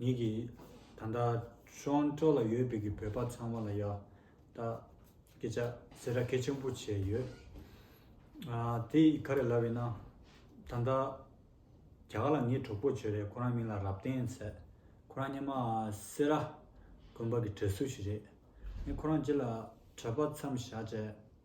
ཉིད་ཀྱི། ད་ལྟ་ཆོའང་ཀྲོའུ་ལ་ཡོད་པའི་གི་བོད་པ་ཚང་མ་ལ་ཡ། ད། སྐད་ཆ་ཟེར་ར་གལ་ཆེན་པོ་བྱས་ཡོད། དེ་ཡི་ག་རེ་ལབ་ཡིན་ན། ད་ལྟ། རྒྱ་གར་ལ་ངའི་གྲོགས་པོ་བྱོས་རེད་ཁོ་རང་མིང་ལ་རབ་བརྟན་ཟེར། ཁོ་རང་སྙེ་མ་སེ་ར། དགོན་པ་གི་གྲས་སུ་ཞིག་རེད། ངས་ཁོ་རང་ཅི་ལ། གྲྭ་པ་མཚམས་བཞག་བྱས།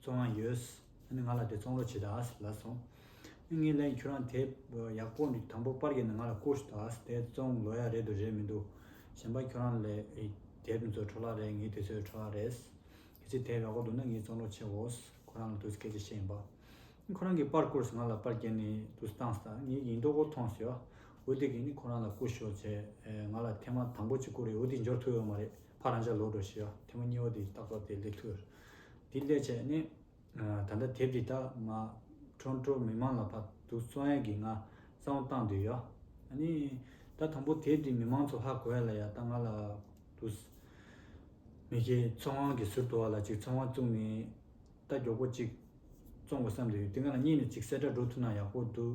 བཙོང་བ་ཡོད། ཨ་ནི་ང་ལ་དེ་བཙོང་རོགས་བྱེད་ད་ལ་སོང། ངས་ལན་ཁྱོད་རང་དེ་ཡག་པོ་འདུག་དང་པོ་པར་གྱི་ནི་ང་ལ་བསྐུར་ཞུ་ད་ལ་དེ་བཙོང་ལོ་ཡག་རེད་འདུག་རེད་མི་འདུག་གཞན་པ་ཁྱོད་རང་ལས་དེ་མི་ཚོ་འཕྲོ་བརླག་རེད་ངས་དེ་ཚོའི་འཕྲོ་བརླག་རེད། གལ་སྲིད་དེ་ཡག་པོ་འདུག་ན་ངས་བཙོང་རོགས་བྱེད་འོས། ཁོ་རང་ལ་དུས་སྐད་ཆ་བཤད་ཡིན་པ། ཨ་ཁོ་རང་གིས་པར་བསྐུར་སོང་ང་ལ་པར་བསྐྱལ་ནས་དུས་བཏང་ཟ་ངས་ཡིན་མདོག་པོ་མཐོང་ཟེར་བ། འོ་དེ་གིས་ནི་ཁོ་རང་ལ་བསྐུར་ཞོག་ཟེར། ང་ལ་ཐལ་མ་དང་པོ་གཅིག་བསྐུར་རེད་འོ་དེ་འབྱོར་ཐུབ་ཡོད་མ་རེད་ཕར་རང་འཇགས་ལོག་འགྲོ་ཞེས་བ། ཐལ་མོ་གཉིས་བོ་དེ་ཏག་ཏག་དེ་སླེབས་ཐུབ། དེའི་ལས་བྱེད་ནི། ད་ལྟ་དེབ་འདི་དག་ང། ཁྲོན་ཏྲོ་མི་མང་ལ་ཕབ་འདུག་གསོལ་དབྱངས་ཀྱིས་ང་གཙང་བོ་བཏང་འདོད་ཡོད། ནི། ད་དང་པོ་དེབ་འདི་མི་མང་ཚོ་ཧ་གོ་ཡ་ལ་ཡ་ད་ང་ལ། དུས། མི་ཁྱེད་གསོལ་དབྱངས་ཀྱི་ཟུར་དུ་བ་ལ་ཅིག་ཚོང་བ་བཙུགས་ནས། རྟ་མགྱོགས་པོ་ཅིག། བཙོང་དགོས་བསམ་འདོད་ཡོད་དེ་ང་ལ་གཉིས་ནས་ཅིག་གསལ་བསྒྲགས་འགྲོ་ཐུབ་ན་ཡག་པོ་འདུག།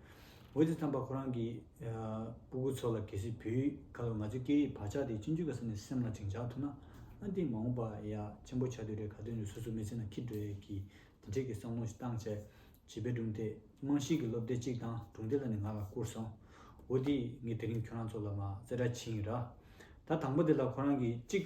འོད་ཟེར་དམ་པ་ཁོ་རང་གི་སྤུ་གུ་ཚོ་ལ་གལ་སྲིད་བུའི་ཁ་ལོ་ང་ཚོའི་སྐད་ཡིག་བག་ཆགས་དེ་སྤྱི་འཇུག་གི་ས་ནས་སེམས་ལ་དྲིང་འཇགས་ཐུབ་ན། ཨ་འདི་མ་འོངས་པ་ཡ་ཆེན་པོ་ཆགས་དུས་རེ་ག་དུས་ནས་སོ་སོའི་མི་ཚེ་ན་ཁྱི་འདྲེ་གི་དེ་འདྲས་ཀྱི་བསམ་བློ་ཞིག་བཏང་བྱས། བྱིས་པའི་སྒྲུང་དེ་རྨང་གཞིའི་གི་སློབ་དེབ་གཅིག་དང་སྒྲུང་དེབ་ལ་ནི་ང་ལ་བསྐུར་སོང། འོ་དེས་ངས་དེ་རིང་ཁྱོད་རང་ཚོ་ལ་མ་རྩེད་སྒྲ་འཆིང་ར། ད་དང་པོ་དེ་ལ་ཁོ་རང་གིས་གཅིག།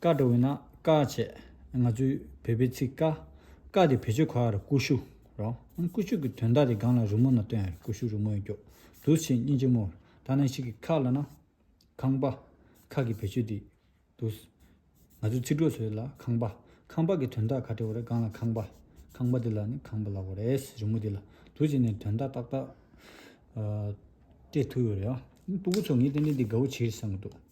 བཀའ་འགྲོ་བས་ན་བཀའ་བྱེད། ང་ཚོའི་བོད་པའི་ཚིག་བཀའ། བཀའ་དེ་བེད་སྤྱོད་ཁོ་ཡར་ཀུ་ཤུ། རོ། ཀུ་ཤུ་གི་དོན་དག་དེ་སྒང་ལ་རུ་མོ་ན་སྟོན་ཡར་ཀུ་ཤུ་རུ་མོའི་སྐྱོག་དུ་ཕྱེད་སྙིང་ཆེན་མོ། ཐ་ན་ཤིག་གི་ཁག་ལ་ན། ཁང་པ། ཁག་གི་བེད་སྤྱོད་དེ། དུ། ང་ཚོའི་ཚིག་གྲོགས་ཚོའི་ལ་ཁང་པ། ཁང་པ་གི་དོན་དག་ཁ་ཏྲེ་བོ་རེ་སྒང་ལ་ཁང་པ། ཁང་པ་དེ་ལ་ནི་ཁང་པ་ལ་བོ་རེས་རི་མོ་དེ་ལ་དུ་བྱེད་ནས་དོན་དག་ཏག་ཏག། སྤྲད་ཐུབ་ཡོད་རེད། སྤུ་གུ་ཚོ་ངས་ཏན་ཏན་དེ་དགའ་བོ་བྱེད་བསམ་གི་འདུག།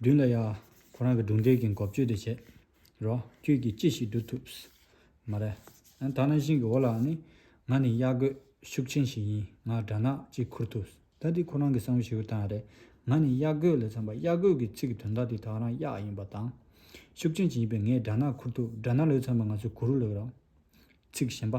བདུན་ལ་ཡ། ཁོ་རང་གི་སྒྲུང་དེབ་ཀྱི་འགོ་བརྗོད་དེ་བྱེད། རོགས། ཁྱོད་ཀྱིས་ཅི་ཞིག་བསྒྲུབ་ཐུབ། མ་རེད། ད་ནང་བཞིན་གྱི་འོ་ལ་ནི། ང་ནི་གཡག་རྒོད་ཤུགས་ཆེན་ཞིག་ཡིན། ང་སྦྲ་ནག་ཅིག་འཁུར་ཐུབ། ད་འདི་ཁོ་རང་གི་བསམ་བློ་ཞིག་ཡོད་སྟངས་རེད། ང་ནི་གཡག་རྒོད་ལས་འཚམ་པ་གཡག་རྒོད་ཀྱི་ཚིག་གི་དོན་དག་དེ་དག་རང་གཡག་ཡིན་པ་དང། ཤུགས་ཆེན་ཞིག་ཡིན་པས་ངས་སྦྲ་ནག་འཁུར་ཐུབ་སྦྲ་ནག་ལོས་འཚམ་པ་ང་ཚོས་གུ་རུ་ལོས་རོགས། ཚིག་གཞན་པ།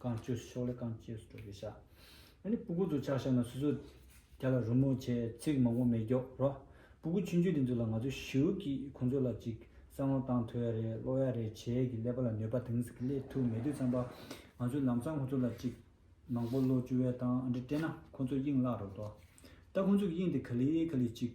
རྐང་བཅོས་སུ་ཕྱོགས་ལས་རྐང་བཅོས་སུ་འགྲོ་དགོས་ཤག། ཨ་ནི་སྤུ་གུ་ཚོ་ཆགས་ཤག་ན་སུ་སུ། རྒྱ་ལ་རོལ་མོ་བྱེད་ཚིག་མང་པོ་མེད་རྒྱོགས་རོགས། སྤུ་གུ་ཆུང་ཆུང་དེ་ཚོ་ལ་ང་ཚོ་ཞིའུ་གིས་ཁོ་ཚོ་ལ་ཅིག་བསམ་བློ་བཏང་ཐོས་རེད་བློ་ཡག་རེད་བྱས་གི་སླེབས་པ་ལ་ནུས་པ་དེང་སང་གི་སླེབས་ཐུབ་མེད་དུས་ཙམ་པ། ང་ཚོས་ལམ་སང་ཁོ་ཚོ་ལ་ཅིག་མང་པོ་བློ་བཅུ་བས་དང་འདྲི་སྤྲད་ན་ཁོ་ཚོ་དབྱིངས་བརླག་རོགས་དོ། ད་ཁོ་ཚོ་གི་དབྱིངས་དེ་ག་ལི་ག་ལི་ཅིག།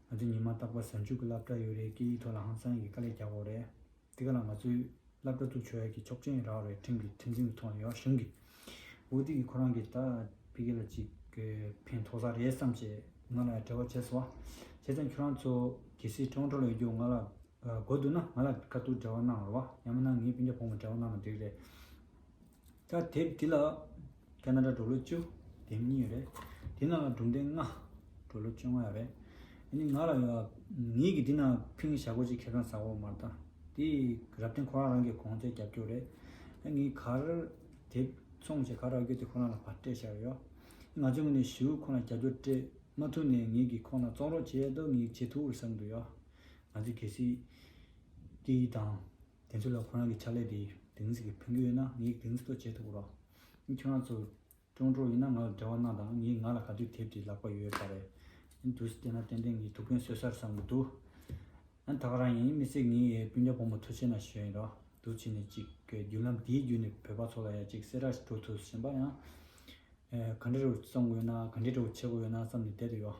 ང་ཚོས་ཉི་མ་རྟག་པར་གཟའ་མཇུག་གི་སླབ་གྲྭ་ཡོད་རེད་སྐད་ཡིག་ཐོག་ལ་ཧང་སང་གིས་དཀའ་ལས་རྒྱག་འོག་རེད། དེ་ག་ལ་ང་ཚོའི་སླབ་གྲྭ་བཙུགས་ཆོག་ཡ་གི་ཆོག་མཆན་རག་རེད་ཁྲིམས་ཀྱི་ཁྲིམས་འཛིན་གྱི་ཐོག་ལ་ཡོད་གཞུང་གི་འོས་བསྡུ་གིས་ཁོ་རང་གིས་ད་བི་གེ་ལ་ཅིག་ཕན་ཐོག་ས་རེད་བསམ་བྱས་ང་ལ་བྲེལ་བ་བྱས་སོ། བྱས་ཙང་ཁྱོད་རང་ཚོ་གེ་སི་ཁྲོང་ཁྲོ་ལ་ཡོད་རྒྱུ་ང་ལ་དགོས་འདུག་ན་ང་ལ་དཀའ་སྡུག་འབྲེལ་བ་གནང་རོགས་ཡང་མིན་ན་ངའི་སྤུན་ཆ་ཕོ་མོ་འབྲེལ་བ་གནང་ན་འགྲིག་རེད། ད་དེབ་འདི་ལ་ཀ་ན་ར་འགྲོ་ལོ་བཅུ་དེབ་གཉིས་ཡོད་རེད་དེ་ནང་ལ་སྒྲུང་དེབ་ལྔ་འགྲོ་ལོ་བཅོ་ལྔ་ཡོད་རེད་ཨ་ནི་ང་ལ་ཡོད་ཨ་ངེས་ཀྱི་འདི་ན་ཕིང་གི་བྱ་སྒོ་ཅིག་ཁེ་ཁང་ཟ་ཧོར་མར་བལྟ་དེ་རབ་བརྟན་ཁོ་རང་རང་གི་གོང་ཚད་རྒྱབ་སྐྱོར་རེད་ཨ་ངེས་གར་དེབ་ཚོང་བྱེད་ག་རག་རྒྱུ་དེ་ཁོ་རང་ལ་བར་སྤྲད་བྱས་ཡོད་ཨ་ང་ཚོས་ངོས་ནས་ཞུ་ཁོ་རང་རྒྱབ་སྐྱོར་སྤྲད་མ་ཐུབ་ནས་ངེས་ཀྱི་ཁོ་རང་བཙོང་རོགས་བྱས་ཨ་ངེས་ཇེ་ཐུགས་བསམ་དུ་ཡོད་ང་ཚོས་གལ་སྲིད་དེ་དང་དེ་ཚོ་ལ་ཁོ་རང་གི་ཕྱག་ལས་དེའི་དེང་ཚིག་གི་ཕན་རྒྱུ་ཡོད་ན་ངས་དེང་ཚིག་ཐོག་བྱེད་ཐུབ་རོགས། ཨིན་ཁྱོད་རང་ཚོ། ཀྲོང་ཀྲོ་ཡིན་ན་ང་ལ་འབྲེལ་བ་གནང་དང་ངས་ང་ལ་ག་དུས་དེབ་དེ་ལག་པ་ཡོད་ཡོད་པ་རེད། ཨིན་དུས་བལྟས་ན་ཏན་ཏན་ངའི་ཐུགས་ཕན་གསོས་སར་བསམ་གྱི་འདུག། ཨན་ད་ག་རང་ཡིན་མི་ཚེ་ངའི་སྤུན་ཟླ་བུ་མོ་ཐུ་ཆེ་ན་ཞོལ་ཡིན་རོགས་དུ་ཆེ་ནས་གཅིག་གི་བརྒྱུད་ལམ་དེའི་བརྒྱུད་ནས་བོད་པ་ཚོ་ལ་ཡང་གཅིག་སེ་ར་ཞིག་འགྲོ་ཐུབ་བཞིན་པ་ཡང། ག་འདྲེ་རུ་བཙོང་གི་ཡོད་ན་ག་འདྲེ་འདྲ་བོ་བྱེད་དགོས་ཡོད་ན་བསམ་ནས་བསྡད་དུ་ཡོད།